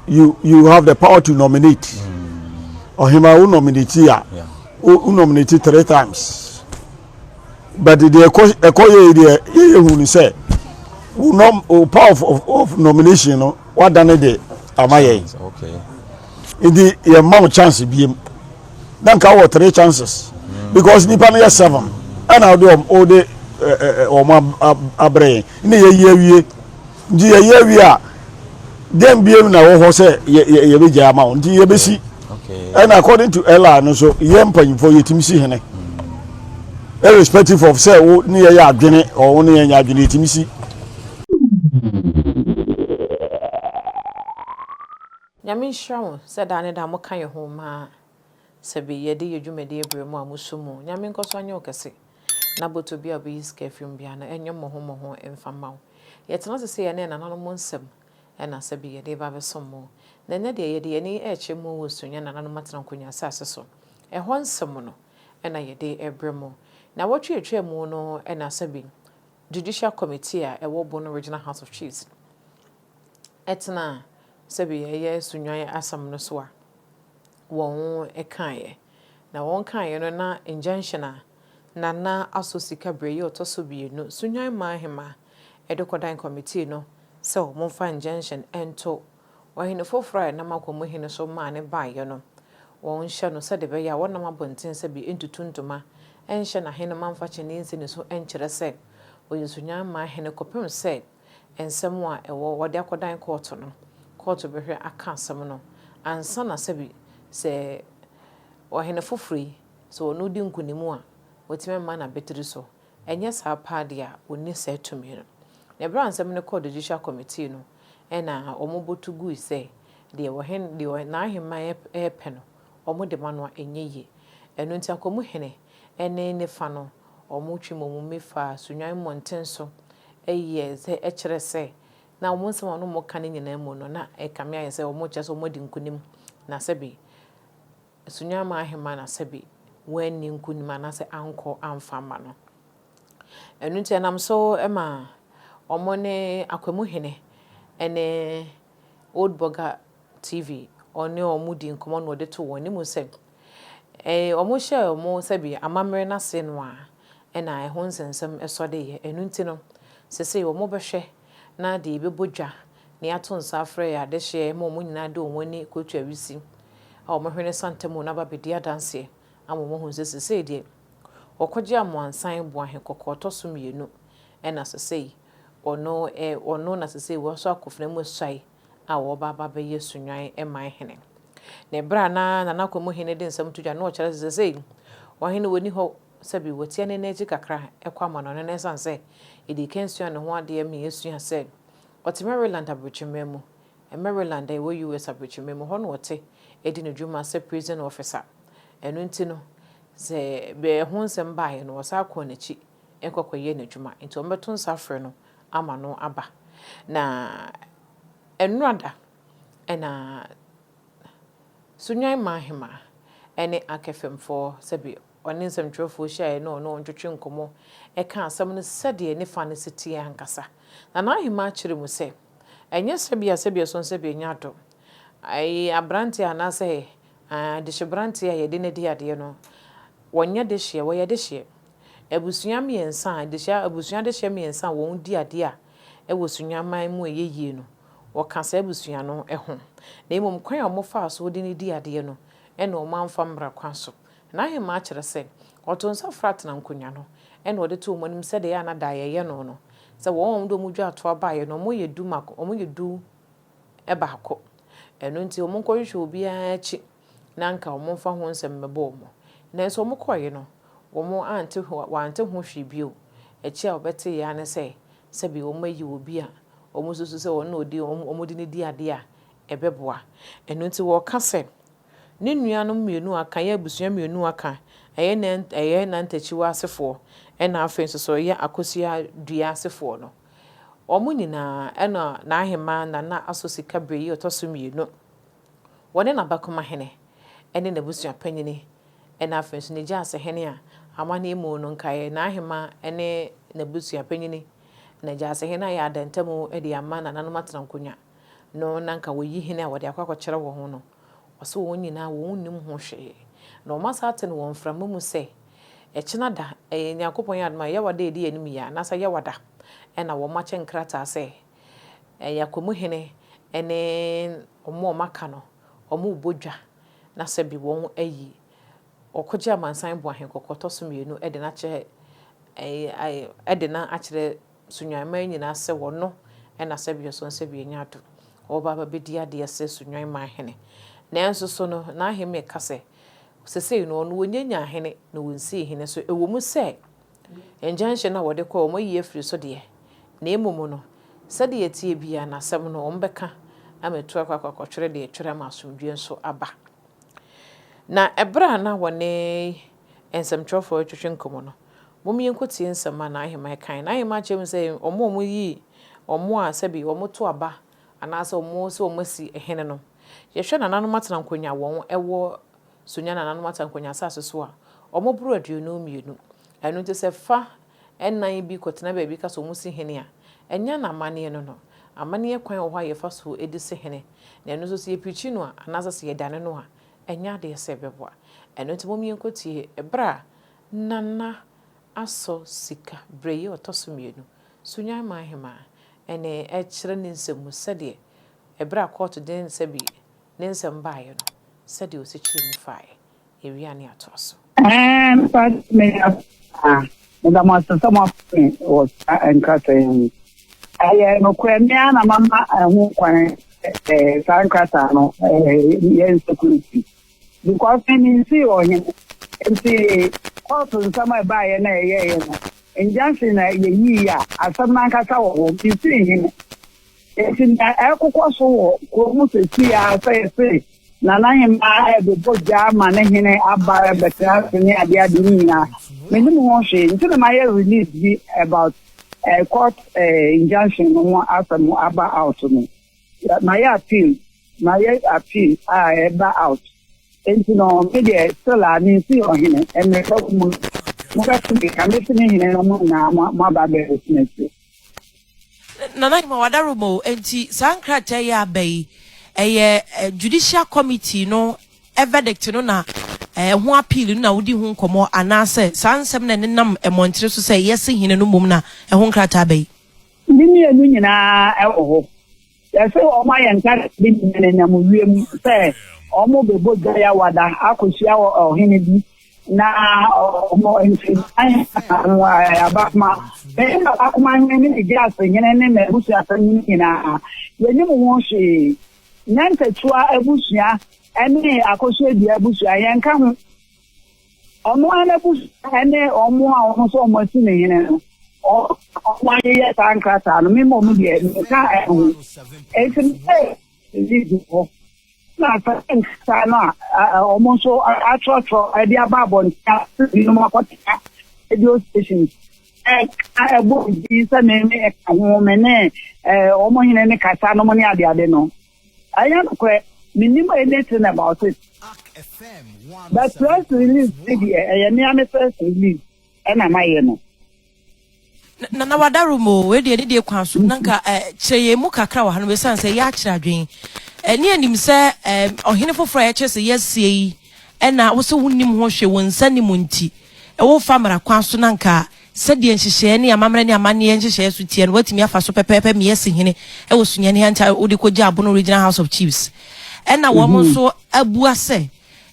you you have the power to nominate ɔhema mm. wo nominate a wo nominate three times but deɛ ɛkɔ ɛkɔ yɛ deɛ yɛyɛ hu ni sɛ wo nom wo power of, of, of nomination no wadane de ama yɛn nti yɛn mma wo chance biem na nka wɔ three chances mm. because nipa no yɛ seven ɛna ɔde ɔde wɔn abrɛ yɛn ne yɛ yie awie. Nti yɛyɛ awie a dɛn biom na ɛwɔ hɔ sɛ yɛbɛgyae ama wo nti yɛbɛsi ɛna according to ɛla no so yɛ mpanyimfoɔ yɛtumi si hene irrespective of sɛ wo ne yɛyɛ adwene ɔ wo ne yɛnyɛ adwene yɛtumi si Nyame nhyira wo sɛ daa ne daa mo ka yɛ ho maa Sɛ bi yɛde yɛ dwumadi eberɛ mu a mo so mu Nyame nkɔso anyɛ wo kɛse na bɔtɔ bi a obeyi sika afiri mu biara no ɛnyɛ mmɔho mmɔho mfa mma wo. Yɛtena ase sɛ yɛne ɛnananom nsɛm ɛna sɛ bi yɛde ba abɛsom mo. Na ɛnnɛ deɛ yɛde yɛn ani ɛrekyɛ mo wɔ Sunyɛ nananom atena nkonwa asase so ɛhɔ nsɛm no ɛna yɛde ɛbrɛ mo. Nawɔtwe a ɛtwaa mu no ɛna sɛ bi Judicial Committee a ɛwɔ Bono Regional House of Chiefs, ɛtenaa sɛdeɛ ɛyɛ Sunwan asɛm no so a wɔkaeɛ. Na wɔkaeɛ no na injunction a Nana asɔ sika berɛ yi a ɔtɔ so mmienu Sunwan maa ahema de kɔdan kɔmitii no sɛ wɔmfa injunction nto ɔhene foforɔ a ɛnam akwa mu hene so maa no baeɛ no, wɔnhyɛ no sɛdeɛ ɛbɛyɛ a wɔnam abɔnten sɛ bi ntutu ntoma nhyɛ n'ahenemma mfa kyiniiɛ nsi ne so nkyerɛ sɛ ɔyɛ Sunwan maa hene kɔpem sɛ nsɛm a ɛwɔ wɔde akɔdan kɔɔto no, kɔɔto bɛhwɛ aka asɛm no ansa na sɛbi sɛ ɔhene foforo yi, sɛ ɔno redi nkonim a, watumi ama no abatiri so. Ɛnyɛ saa paa deɛ a, ɔnni saa tumi no. Na berɛ a nsɛm no kɔɔ Judicial Committee no, ɛnna wɔbɔ to gui sɛ deɛ ɔhene, deɛ n'ahemman repɛ no, wɔde ma no a, ɛnyɛ yie. Ɛno nti, Akwamuhene ne ne fa no, Wɔtwe wɔn mmi fa Sunnwan mmɔnten so yɛ sɛ kyerɛ sɛ na wɔn nsɛm a na wɔka no nyinaa mu no, na ɛkame ayɛ sɛ wɔkyerɛ sɛ wɔadi nkonim, na sɛbe Sunnwan mmaa ahemmaa na sɛbe wɔanni nkonim anaasɛ ankɔ amfa amma no. Ɛno nti ɛnam so ma wɔne Akwemu Hene ne Old Burger TV ɔne wɔn di nkɔmmɔ na ɔde to wɔn anim sɛ Ee, wɔhyɛɛ wɔn sɛbe amammerɛ no ase no a, ɛna ɛho nsɛnsɛm sɔ de yɛ. Ɛno nti no, seesei wɔbɛhwɛ na deɛ yɛbɛbɔ dwa na yɛato nsa afrɛ yɛ adehyeɛ ma wɔn nyinaa de wɔn ani kɔtu awisi a wɔhwene santa mu no aba abɛdi adanseɛ ama wɔahunu sɛ seesei deɛ wɔkɔgye Amoansan Boahe kɔkɔɔ tɔ so mmienu na seesei ɔno, ɛ, ɔno na seesei wɔasɔ akofena mu asuae a ɔreba aba abɛyɛ Sunyɔn man hene. Na ɛberɛ a na Nana Kwamu hene de nsɛm to dwa no na ɔkyerɛ sɛ sesei ɔhene wɔ nni hɔ sɛbi watia ne nan akyi kakra kɔ amannɔne no ɛsiane sɛ yɛdii kan suaa ne ho adeɛ ma yɛsua sɛ ɔte Maryland abrɛkyimma mu Maryland a ɛwɔ US abrɛkyimma mu hɔ na ɔte ɛdi ne dwuma sɛ prison officer ɛno nti no sɛ ɛho nsɛm baeɛ no ɔsan kɔɔ n'akyi ɛkɔ kɔyɛɛ n'adwuma nti wɔbɛto nsa frɛ no ama no aba. Na ɛnnora da na Sunyan Mahema ne Akefemfoɔ, sɛbe ɔne nsɛmtwerɛfoɔ hyiaeɛ na ɔne wɔn twetwee nkɔmmɔ kaa asɛm no sɛdeɛ ne fa no si teɛ ankasa. Na n'ahemaa kyerɛ mu sɛ, Ɛnyɛ sɛbea sɛbea ɛso no sɛbea nya adom. Ɛyɛ aberanteɛ anaasɛ adehyebranteɛ a yɛde no adi adeɛ no, wɔnyɛ dehyeɛ, wɔyɛ dehyeɛ. Abusua mmiɛnsa a adehyɛ, abusua adehyɛ mmiɛnsa a wɔn di adeɛ a ɛwɔ Sunyani-man mu a ɛyɛ yie no, wɔka saa abusua no ho. Na mmom kwan a wɔn faa so wɔde no dii adeɛ no ɛna wɔn amfa mmra kwan so. Na Ahemaa kyerɛ sɛ, ɔtoo nsa frɛ atena nkonnwa no ɛna ɔde too wɔn anim sɛdeɛ ɛyɛ a na daeɛ yɛ no no, sɛ wɔn a wɔn de wɔn dwa toa baeɛ no wɔn yɛ du mako, wɔn yɛ du baako. Ɛno nti wɔn nkɔhwehwɛ obiara akyi na anka wɔmfa ho nsɛm mmɛbɔ wɔn. Nanso wɔkɔeɛ no, wɔante ho, wɔante ho hwee bio. Akyire a wɔbɛteeɛ ara ne sɛ, sɛbe wɔayi obi a wɔsusu sɛ ɔno na ɔdi, wɔde no di adeɛ a, ɛbɛboa. Ɛno nti wɔka sɛ, Ne nuanom mmienu a aka, ɛyɛ abusua mmienu a aka, ɛyɛ Nan, ɛyɛ Nantakyiwa asefoɔ, ɛna afei nso so ɛyɛ Akosua Dua asefoɔ no, wɔn nyinaa, ɛna N'ahemaa Nana Aso Sika Bere yi ɔtɔ so mmienu, Wɔne n'abakomahene ne n'abusua panyin na afei nso ne gyaase hene a amanneɛ mu no nkaeɛ, n'ahemma ne n'abusua panyin, na gyaase hene ayɛ adantamu de ama nananom atena nkonnwa no na anka wɔyi hene a wɔde akɔ akɔkyerɛ wɔn no. Ɔse wɔn nyinaa wɔn nnim ho hwee na wɔn asa aten wɔ mframa mu sɛ ɛkyena da, ɛyɛ Nyankopɔn adom a Yawa da edi anim yi a n'asa Yawa da na wɔn akyɛ nkrataa sɛ, Ɛyɛ Kwamu hene ne wɔn a wɔaka no, wɔrebɔ dwa, na sɛbe wɔayi Ɔkogye Amansan Boahen Kɔkɔtɔ so mmienu de no akyerɛ ɛɛ de no akyerɛ Sunyaniman nyinaa sɛ ɔno na sɛbe ɔsɔ Nsɛbea Nyado ɔreba abɛdi adeɛ sɛ Sunyaniman hene. Nanso so no, n'ahemmeɛ ka sɛ, sesei no, ɔno wɔnyɛ nyaa hene na wɔnsii hene. So ɛwɔ mu sɛ Injunction no a wɔde kɔe, wɔayi afiri so deɛ, na mmom no, sɛdeɛ ɛteɛ biara no, asɛm no, wɔbɛka ama atu akɔ akɔtwere deɛ ɛtwere ama asomdwoeɛ nso aba. Na ɛberɛ a na wɔne nsɛmtwerɛfoɔ retwetwe nkɔmmɔ no, mom yɛnkɔtie nsɛm a n'aheman kae. N'aheman kyerɛ mu sɛ, wɔn a wɔyi wɔn a sɛbi wɔto aba anaasɛ wɔn sɛ wɔasi hene no, yɛhwɛ nananom atena nkonnwa wɔn wɔ So nya nananom atankwa nya asase so a wɔn boro aduonu mmienu? Ɛno nti sɛ fa nnan bi kɔtena baabi ka sɛ wɔn si hene a, nya no amanneɛ no no. Amanneɛ kwan wɔ hɔ a yɛfa so de si hene, na ɛno nso sɛ yɛpirikyi no a anaasɛ sɛ yɛdane no a, ɛnyɛ adeɛ sɛ ɛbɛboa. Ɛno nti mom yɛnkɔtie ɛberɛ a Nana asɔ sika berɛ yi ɔtɔ so mmienu, So nya mmaa ahemaa? Ɛnee ɛkyerɛ ne nsɛm mu sɛdeɛ ɛberɛ a kɔɔto den sɛ bi Ne nsɛm baeɛ no, sɛdeɛ ɔsekyerɛ mu faeɛ, awia ne atoa so. Ɛmfa me ase paa. Meda mo ase sɛ moafa me wɔ saa nkrataa yi ho. Ɛyɛ nokorɛ, me ara na mama ɛho kwan sɛ saa nkrataa no yɛ nsecurity because me mensii ɔhene nti kɔɔto nsɛm a ɛbaeɛ no a ɛyɛeɛ no, injunction na yɛyiiɛ a asɛm no ankasa wɔ hɔ, mesii hene. Enti nea ɛrekokɔ so wɔ kurow mu seesei ara sɛ yɛse Nana Hemaa rebobɔ gya ama ne hene aba rebɛtena ase ne ade ade no nyinaa, mennim ho hwee. Nti na mayɛ release bi about eh, court eh, injunction no ho asɛm aba out no. Yɛ- Mayɛ appeal, mayɛ appeal a ɛba out. Enti no, me deɛ still a mensi ɔhene, mmerɛ pa mu no, mobɛte me nka mese me hene na mo nyinaa mo- moaba abɛbɛtena ase. Nana Nyima, w'adaroma o, enti saa nkrataa yi a aba yi, ɛyɛ Judicial Committee no verdict no na ɛho appeal no na wodi ho nkɔmmɔ anaasɛ saa nsɛm na ɛnenam mmɔntene so sɛ yɛse hene no mmom na ɛho nkrataa aba yi? Ne mmienu nyinaa wɔ hɔ. Yɛse wɔayɛ nkakrabi ne nyananyamu wiem sɛ wɔbɛbɔ dwa yawada akɔhyia ɔhene bi na wɔn nsidan abakoma bɛyɛ abakoma hene ne Megiase hene ne n'abusuasɛ no nyinaa. Yɛnim ho hwee. Nyantakyiwa abusua ne akɔsoadua abusua, yɛnka ho. Ɔno ara n'abusua ne wɔn a wɔn nso wɔn asi ne hene no, wɔn a wɔayeyɛ saa nkrataa no, me mmom deɛ nka ɛho. Enti meyɛ ɛdi gu hɔ. Na saa nkrataa no a wɔn nso atwerɛtwerɛ de aba abɔnten a binom akɔtena radio station ɛka ɛbɔ din sɛ me ne ɛka ho me ne wɔn hene ne kasa nom ne adeade no. Ɛnyɛ nokorɛ, mennim any thing about it, but press release no deɛ ɛyɛ me ara me first release ɛna mayɛ no. Nana Wadarom o, wei deɛ ne deɛ kwan so na nka eh, kyerɛ yɛn mu kakra wɔ ha no bɛsiane sɛ yɛakyerɛ adwene. Eh, ne anim sɛ eh, ɔhene foforɔ a yɛkyerɛ sɛ yɛasie yi ɛna wo sɛ wonim ho hwee wo nsa nim nti, ɛwɔ fa mmara kwan so na nka Sɛdeɛ nhyehyɛɛ ne amammerɛ ne amanneɛ nhyehyɛɛ so teɛ no, woatumi afa so pɛpɛɛpɛ mia asi hene wɔ sunyani ha nkyɛn a wode kɔgyaa Bono Regional House of Chiefs. Ɛna wɔn mm-hmm. nso abua sɛ,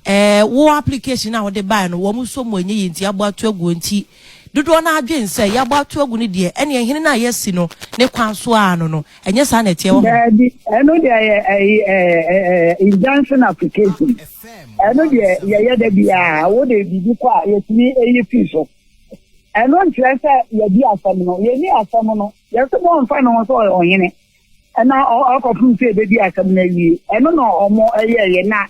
eh, wo application a wode bae no, wɔn nso mu ɛnyɛ yie nti abɔ ato aguo nti dodoɔ no adwen sɛ yɛabɔ ato agu no deɛ ɛneɛ hene no a yɛasi no ne kwan so a no no ɛnyɛ saa na ɛteɛ wɔ hɔ ɛno deɛ yɛ injunction application ɛno deɛ yɛyɛ da biaa wode biribi kɔ a yɛtumi ɛyi fii so Ɛno nkyerɛ sɛ yɛadi asɛm no. Yɛnni asɛm no. Yɛse wɔmfa ne ho sɛ ɔyɛ ɔhene na ɔkɔpem sɛ yɛbɛdi asɛm no awie. Ɛno na wɔn yɛeɛ na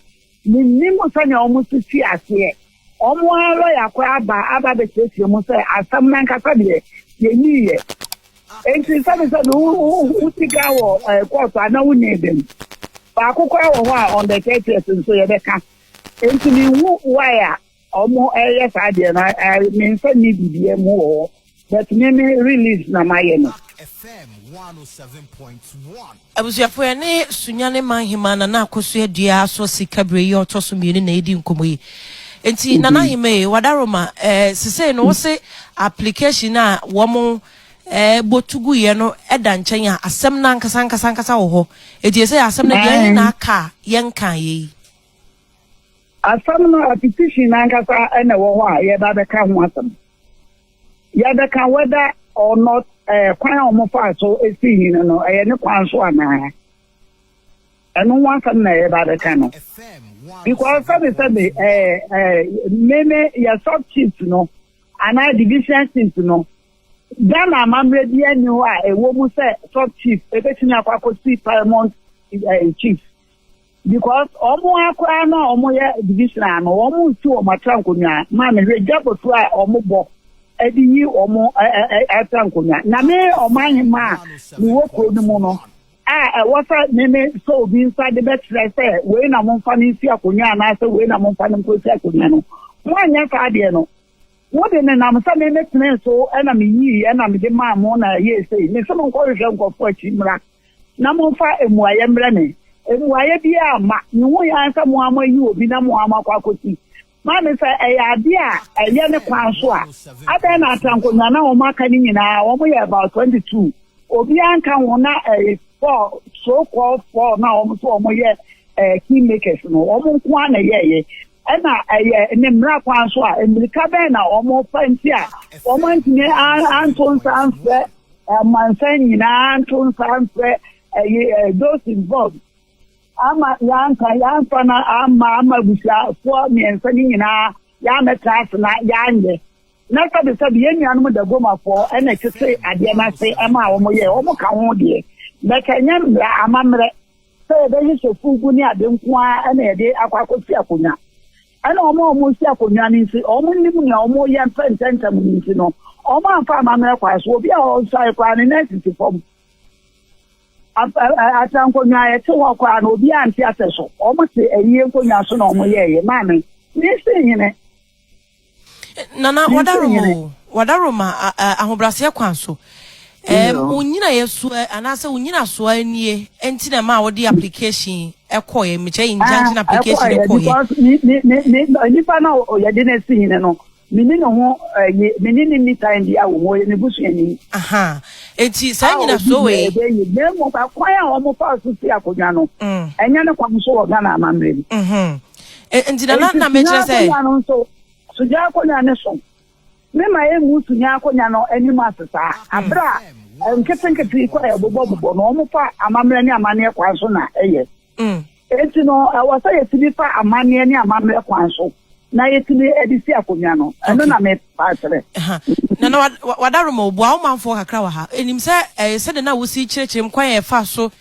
mennim sɛnea wɔn nso fii aseɛ. Wɔn ara lɔya kɔ aba aba abɛkyerɛkyerɛ mu sɛ asɛm no ankasa deɛ yɛnniiɛ. Enti sɛbesɛbe wosi ka wɔ kɔɔto a na wonnii da mu. Baako koraa wɔ hɔ a on the 30th nso yɛbɛka. Enti menhu why a Ɔmo ɛyɛ saa deɛ no I me nsa nni biribiaa mu wɔ hɔ but me me release na mayɛ no. Abusuafo yɛne Sunyani man hemaa Nana Akosua Adua asɔ sika bere yi a ɔtɔ so mmienu na yɛdi nkɔmmɔ yi. Nti Nana Hima e, Wadaroma e, sesei no wose application a wɔn e, bɔ tu gu yɛ no da nkyɛn a asɛm no ankasa ankasa ankasa wɔ hɔ. Eti ɛsɛ asɛm no deɛ ɛhe na aka a yɛnkaa yɛ yi? Asɛm no, a petition no ankasa na ɛwɔ hɔ a yɛreba abɛka ho asɛm. Yɛbɛka whether or not ɛɛ kwan a wɔfaa so sii hene no no, ɛyɛ ne kwan so anaa. Ɛno ho asɛm na yɛreba abɛka no. Because sɛbe sɛbe ɛɛ ɛɛ me ne yɛ sub chiefs no anaa division chiefs no, Ghana amammerɛ bi ani hɔ a ɛwɔ mu sɛ sub chief ebetumi akɔ akɔsi paramount ɛɛ chief. Because ɔmo ara koraa no a ɔmo yɛ division ara no ɔmo nsi ɔmo atra nkonnwa ma me hwɛ dwabotu a ɔmo bɔ ɛde yi ɔmo atra nkonnwa na me ɔman hema a me wɔ kuro no mu no a ɛwɔ sɛ me me sɔ obi nsa de bɛkyerɛ sɛ wei na mo nfa no nsi akonnwa anaasɛ wei na mo nfa no nkosi akonnwa no mo anyɛ saa adeɛ no mo de ne nam sɛ me me tene so ɛna me yii ɛna me de maa mo na ɛyɛ esei me sɛ mo nkɔhwehwɛ nkɔfo akyi mmra na momfa mmuaeɛ mmrɛ me. Mmuaeɛ biara amma. Mehui ara sɛ mo ara moayi obi na mo ara moakɔ akɔsi. Maame, sɛ ɛyɛ adeɛ a ɛyɛ ne kwan so a, adɛn na Atankonwa no a wɔaka no nyinaa, wɔyɛ about 22, obiara nka ho na ɛyɛ four, so called four no a wɔn so wɔyɛ eh, king makers no, wɔn nko ara na ɛyɛeɛ? Ɛna ɛyɛ ne mmara kwan so a, mmirika bɛn na wɔfa nti a wɔantumi anto nsa amfrɛ Amansan nyinaa nto nsa mfrɛ those involved ama yɛanka yɛamfa no amma ama abusuafoɔ mmiɛnsa no nyinaa yɛamɛtra ase na yɛanyɛ na sɛbesɛbe yɛn nuanom dagomafoɔ ɛna ɛtete adeɛ no ase ɛma wɔn yɛ wɔn ka ho deɛ bɛka ɛnyɛ mmerɛ amammerɛ sɛ yɛbɛhyehyɛ fugu ne ade nko ara ɛna yɛde akɔ akɔsi akonnwa Ɛna wɔn a wɔresi akonnwa no nso, wɔnnim nea wɔreyɛ mfa ntɛmntɛm no nti no, wɔamfa amammerɛ kwan so. Obi a ɔresuare koraa no, ne nan sisi fam. Atra nkonnwa a yɛte hɔ koraa no, obiara nte asɛ so. Wɔte ayie nkonnwa so na wɔyɛeɛ. Maame, mensi nhene. Nana, wadarom o, wadarom ahobrɛaseɛ kwan so. Ɛɛm, wo nnyinaeɛsoɔ anaasɛ wo nnyinasoɔ nie nti na ɛma a wode application ɛkɔɛ, mekyɛ injunction application ɛkɔɛ. Ɛkɔɛ, nipa na yɛde ne si hene no, mene ne ho, mene ne ni time bi awo mu, ɔyɛ me busuani. Aha, enti saa nnyinasoɔ wei. Ɛbɛ yi, na mmom akwan a wɔn fa so si akonnwa no, ɛnyɛ ne kwan so wɔ Ghana amammerɛ mu. Nti na na na mekyerɛ sɛ. Sogya akonnwa no nso, sogya akonnwa ne so. Mema yɛn mmusu nya akonya no anim ase saa. Bere a nketenkete yi kɔ a yɛbobɔbobɔ no, wɔfa amammerɛ ne amanneɛ kwan so na ɛyɛ. Enti no, ɛwɔ sɛ yetumi fa amanneɛ ne amammerɛ kwan so na yetumi de si akonya no. Ɛno na merepa akyerɛ. Nana Wadaroma, obua wo manfoɔ kakra wɔ ha. Ɛnim sɛ ɛyɛ sɛdeɛ na wosi kyerɛkyerɛ mu kwan a yɛfa so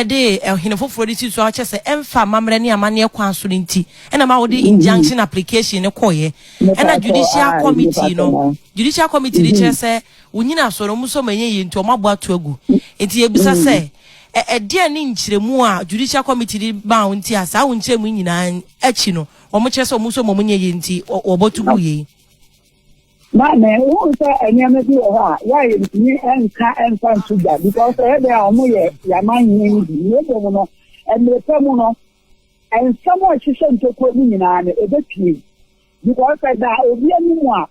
de ɔhene foforɔ de sii so a ɔkyɛ sɛ ɛmfa amammerɛ ne amanneɛ kwan so no nti na ma wɔde injunction application no kɔeɛ ɛna judicial committee no judicial committee no kyerɛ sɛ wonyina so no ɔmo sɛ ɔmo ɛnyɛ yie nti ɔmo abɔ ato agu nti yɛbisa sɛ ɛdeɛ ne nkyerɛmu a judicial committee de baa wo nti a saa wo nkyerɛmu nyinaa akyi no ɔmo kyerɛ sɛ ɔmo sɛ ɔmo nyɛ yie nti wɔbɔ to gu yei Na me hu sɛ nneɛma bi wɔ hɔ a yɛ a yɛntumi nka mfa nto gya because ɛyɛ dɛn a wɔn yɛ yaman hene no bi na ebom no mmerɛ pɛ mu no nsɛm a ɛhyehyɛ ntokuo no nyinaa no ɛbɛpie because ɛda obi anim a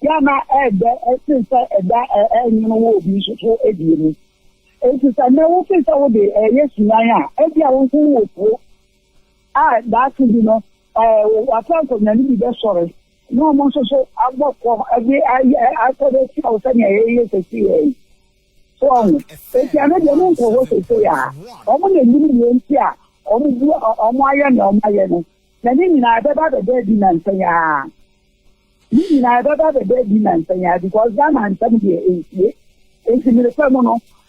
yɛ a na ɛdɛ ɛsen sɛ ɛda ɛnwono wɔ obi nso so ɛdeɛ mu nti sɛ nnɛ wofi sɛ wode ɛyɛ sunan a ɛbi a wofo wɔ kuo a daase bi no wɔafa nkonnwa no bi bɛsɔre na wɔn nso so abɔ kɔ de ayɛ akɔ de atia wo sɛnea yɛyɛ sɛsi yɛ yi so ɔho eti ano deɛ mo nkɔ hɔ sɛsi yɛ a wɔn na enim deɛ nti a wɔn bu wɔn ayɛ nea wɔn ayɛ no na ne nyinaa ɛbɛba bɛda adi nansa yi ara ne nyinaa ɛbɛba bɛda adi nansa yi ara because Ghana nsɛm deɛ nsie eti mmirika mu no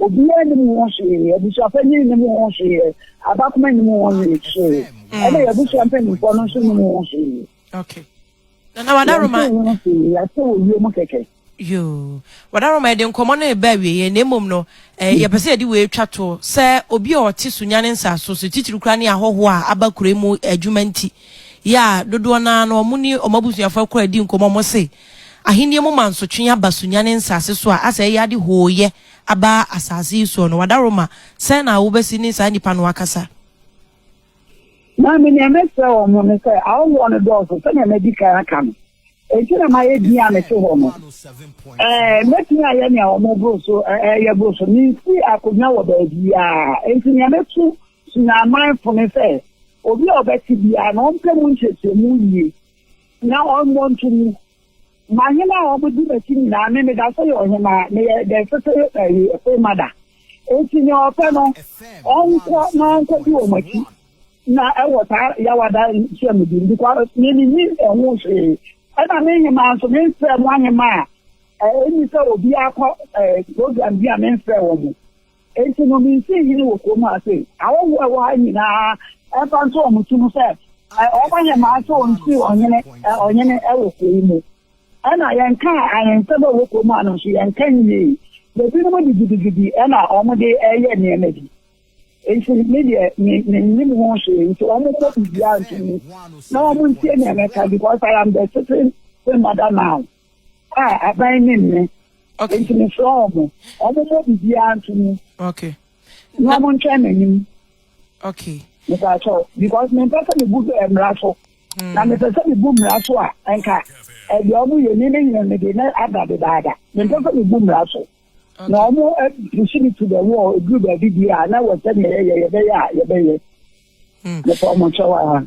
Obiara nnim ho hwee, abusuapanyin nnim ho hwee, abakoma nnim ho hwee, ɛna yɛn abusua mpanimfoɔ no nso nnim ho hwee. Okay. Nana Wadaroma. Yɛn nso ho hwee, yɛasɛ wɔ wiem kɛkɛ. Yoo. Wadaroma yɛde nkɔmɔ no reba awieɛ na mmom no eh, hmm. yɛpɛ sɛ yɛde wei twa to sɛ obi a ɔte Sunyane nsaaso so titiri kura ne ahɔhoɔ a aba kure mu adwuma nti yɛ a dodoɔ no ara no ɔmo ne ɔmo abusuafoɔ akora di nkɔmɔ ɔmo se Ahenni mu mansotwe aba sunya ne nsase so a asɛ ɛyɛ ade hooyɛ aba asase yi soɔ no, Wadaroma, sɛn na wobɛsi ne saa nnipa no akasa? Na me nea mɛsrɛ wɔn mo ne sɛ, ahɔhoɔ no dɔɔso sɛnea madi kan aka no, enti na mayɛ din a mete hɔ no. Ɛɛ, mɛtumi ayɛ nea wɔn boro so reyɛ boro so, mensi akonnwa wɔ baabiara. Enti nea mɛtu sunya amanfo ne sɛ, obi a ɔbɛte biara no ɔmpɛ mu nkyerɛkyerɛmu yie, Na ɔmmɔ nto mu. M'ahene a wɔdi m'akyi nyinaa, me meda so yɛ ɔhemmaa, meyɛ the fifth ayi, full mother. Enti nea ɔpɛ no, ɔnkɔ na ɔnkɔdi wɔn akyi na ɛwɔ saa yawada nhyiamudi no because me mennim ɛho hwee. Ɛna me hemmaa nso, memfrɛɛ mo ahemmaa a ɛnni sɛ obiara kɔ eh, program bi a memfrɛɛ wɔn. Enti no, minsii hene wɔ kurom ha sei. Ahɔho a ɛwɔ ha nyina ara, ɛmfa nto wɔn so mu sɛ, wɔbɛyɛ maa sɛ wɔnsii ɔhene, ɔhene wɔ kuro yi mu. Ɛnna yɛnkaa ahensɛm a ɛwɔ kurom ha no nso, yɛnka nwiei. Na binom de gidigidi na wɔde reyɛ nneɛma bi. Enti me deɛ, me, mennim ho hwee. Enti wɔmmɔ biribiara nto mu, na wɔntie nea mɛka, because I am the sitting Queen Mother now. a aban ne mme Okay. nti mesrɛ wɔn wɔn mmɔ biribiara nto mu Okay. na wɔn ntwɛn m'anim Okay. mepɛ akyɛw because mempɛ sɛ mebu eh, mmara so Mm. na mepɛ sɛ mebu mmara so a nka ɛdeɛ ɔmo yɛ ni ne nyina ne de na ada dedaada mempɛ sɛ mebu mmara so na Okay. ɔmo apusi me to the wall ɛduru baabi bi a na wɔ sɛdeɛ yɛyɛ yɛbɛyɛ a yɛbɛyɛ mepɛ ɔmo kyɛw a.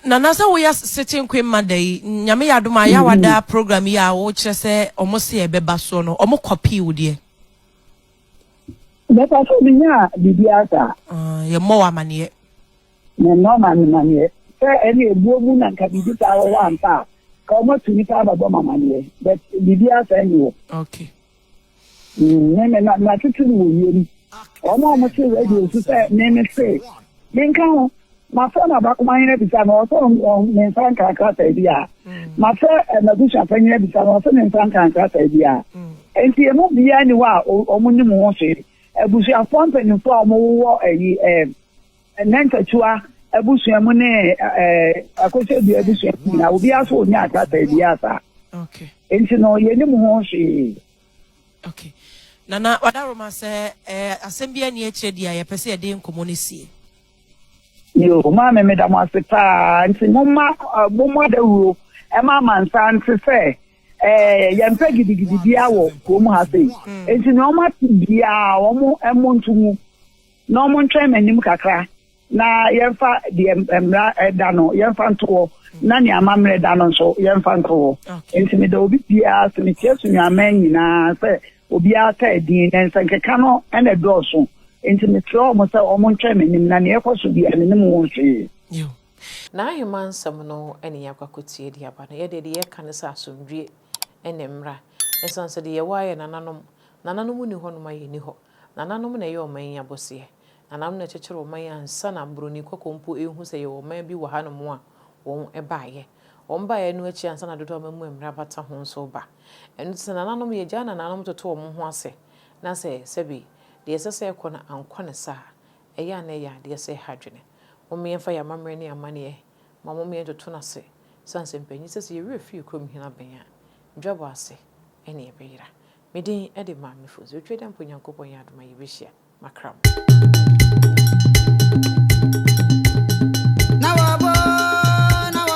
nana sɛ woyɛ sete nkwe mma da yi nyame yɛ adom a yɛ wada mm-hmm. program yi a wokyerɛ sɛ ɔmo se ɛbɛba soɔ no ɔmo kɔpii wo deɛ mɛpa sɛ menya biribi asa ah, yɛmmɔ wɔ amanneɛ memmɔ mamanneɛ sɛ ɛne ɛbuo mu na nka biribi saa wɔwɔ ampa a ka ɔmatu nipa abɛbɔ mamanneɛ but biribi asa ni wɔ okay Me me na na tete no wɔ wiem. Wɔn a wɔte radio so sɛ me me se menka ho. Mafrɛ m'abakoma hene abisa no ɔsɛ ɔn ne nsa nka nkrataa bi a. Mafrɛ eh, m'abusuafa hene abisa no ɔsɛ ne nsa nka nkrataa bi a. Enti emu biara ni hɔ a wɔn nim ho hwee. Abusuafoɔ mpanimfoɔ a wɔwɔ ɛyi eh, Nnɛntatua abusua mu ne akosɛdua abusua mu nyinaa, obiara nso ɔnya akrataa biara saa. Enti no, yɛnim ho hwee. Okay. Nana Wadaroma sɛ asɛm bi ani akyerɛ di a yɛpɛ sɛ yɛde nkɔmmɔ no sie. Yo, maame meda mo ase paa nti momma mommɔ dawuro ɛma amansa nte sɛ yɛmpɛ gidigidi biara wɔ kurom ha sei. Nti nea wɔate biara wɔn ɛmo nto mu. na wɔntwɛn m'anim kakra, na yɛmfa deɛ mmara da no yɛmfa nto hɔ, na nea amammerɛ da no nso yɛmfa nto hɔ. Enti meda obi biara so, mekyia Sunuaman nyinaa sɛ obiara ka edin, na nsɛnkeka no na ɛdɔɔso. Enti mesrɛ wɔn sɛ wɔntwɛn m'anim, na nea ɛkɔ so biara menim ho hwee. N'ahemman nsɛm no na yɛakɔ akɔtie de aba. Na yɛdeɛ deɛ yɛka ne sɛ asomdwoeɛ ne mmra, ɛsiane sɛ deɛ yɛwɔ ara yɛ nananom, nananom nni hɔ nom a yɛnni hɔ. Nananom na ɛyɛ ɔman yi abɔseɛ. Nananom na ɛkyekyere ɔman yi ansa na broni kɔkɔɔ mpo rehu sɛ yɛwɔ ɔman bi wɔ hanom a wɔbaeɛ. Wɔn baeɛ no akyi ansa na Dodoɔ Amammuo mmara bata ho nso reba. Ɛno nti sɛ nananom yɛgyaa nananom toto wɔn ho ase na sɛ sɛbi deɛ ɛsɛ sɛ ɛkɔ no ankɔ no saa a, ɛyɛ a na ɛyɛ adeɛ sɛ ɛha adwene. Mommyɛ mfa yɛn amammerɛ ne yɛn amanneɛ ma mommyɛ ntoto no ase sane sɛ mpanyin sɛ sɛ yɛn werɛ fi yɛn kurom hene abɛn a, dwabɔ ase na yɛbɛyera. Me din de Maame Fonso. Otwa dɛ mpo Nyankopɔn yɛ adom a yebehyia. Makra mo.